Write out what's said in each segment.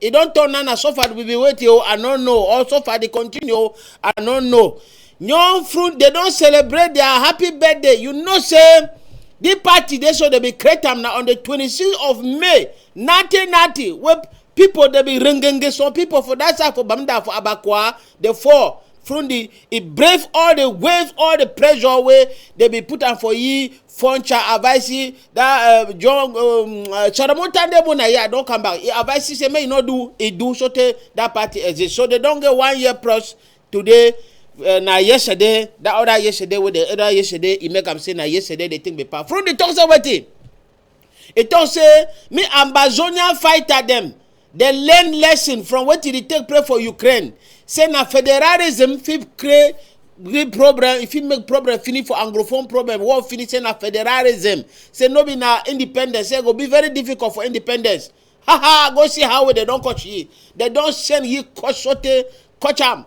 e don turn nana suffer we be waiting o i no know or suffer dey continue o i no know young fruit dey don celebrate their happy birthday you know say the party dey so dey be create am na on the 26th of may 1990 wey people dey be ringenge some people for that side for bamda for abakwa dey fall from the e brave all the wave all the pressure wey dey be put am for ye funcha avaisi that uh, John um, uh, Solomon Tandemona here don come back. He advise say make you no do he do so tey that party exist. So they don get one year plus today. Uh, na yesterday that other yesterday wey the other yesterday he make am say na yesterday the thing be pass. From the talk say wetin? He talk say me Ambazonia fighter dem Dem learn lesson from wetin dey take place for Ukraine, say na federalism fit create real problem, e fit make problem finish for Anglophone problem, war finish, say na federalism, say no be na independence, say e go be very difficult for independence. Ha ha, go see how dem don catch ye. Dem don send ye catch sotey catch am.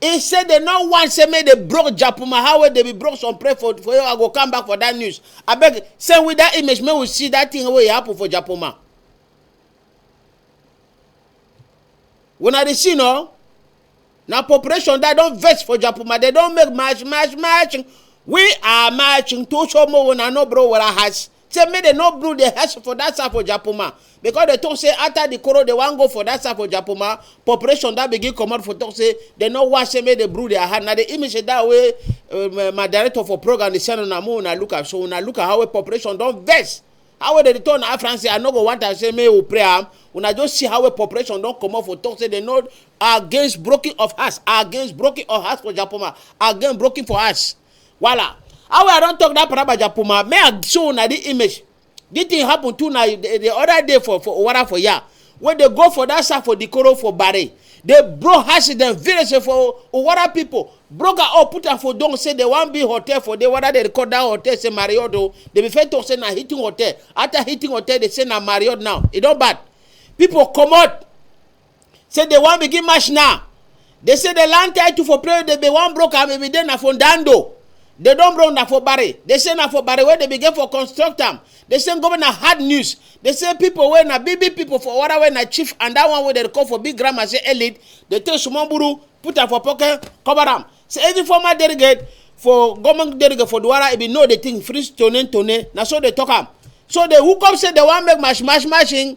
He say dem no want say make the broke japuma how wey dey be broke some pray for for you I go come back for that news abeg send we that image make we see that thing wey happen for japuma. Una dey see no na population that don vex for japuma dem don make march march march we are marching to show more una no bro wala has say make dem no build the house for that side for japoma because dem talk say after the koro dem wan go for that side for japoma population don begin comot for talk say dem no wan say make dem brew their hand na the image that way um, my director for program dey send una make una look am so una look am how wey population don vex how wey dem dey tell una afran say i no go want am say make we pray am una just see how wey population don comot for talk say dem no against broken of house against broken of house for japoma against broken for house. Voila. How I don't talk that Parabaja Puma, may I show na the image. This thing happen too now the, the other day for for Owara for ya. When they go for that side for the Koro for Barry, they broke house them village for Owara people. Broke her up, put her for don't say they want be hotel for they whether they record that hotel say Marriott. Oh. They be fair to say na hitting hotel. After hitting hotel, they say na Marriott now. It don't bad. People come out. Say they wan begin match now. They say the land title for player they be one broke am be there na for Dando. They don broke na for Barry. They say na for Barry where they begin for construct am. They say governor hard news. They say people wey na big big people for Wara wey na chief and that one wey they call for big grammar say elite. They take small buru put am for pocket cover am. Say every former delegate for government delegate for Duwara e be know the thing free tone tone na so they talk am. So they hook up say they wan make match match matching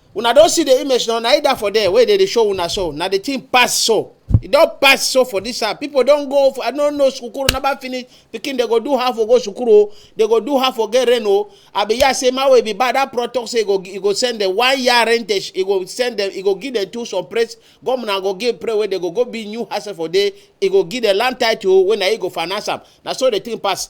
Una don see the image now, na it that for there wey dey dey show una so, na the thing pass so, e don pass so for this side, people don go, I no know sukuru never finish, pikin dey go do half for go sukuru o, dey go do half for get rain o, I be hear say man wey be bad that pro talk say e go e go send them one year rentage, e go send them, e go give them two some praise, governor go give pray wey dey go go build new house for there, e go give them land title wey na e go finance am, na so the thing pass.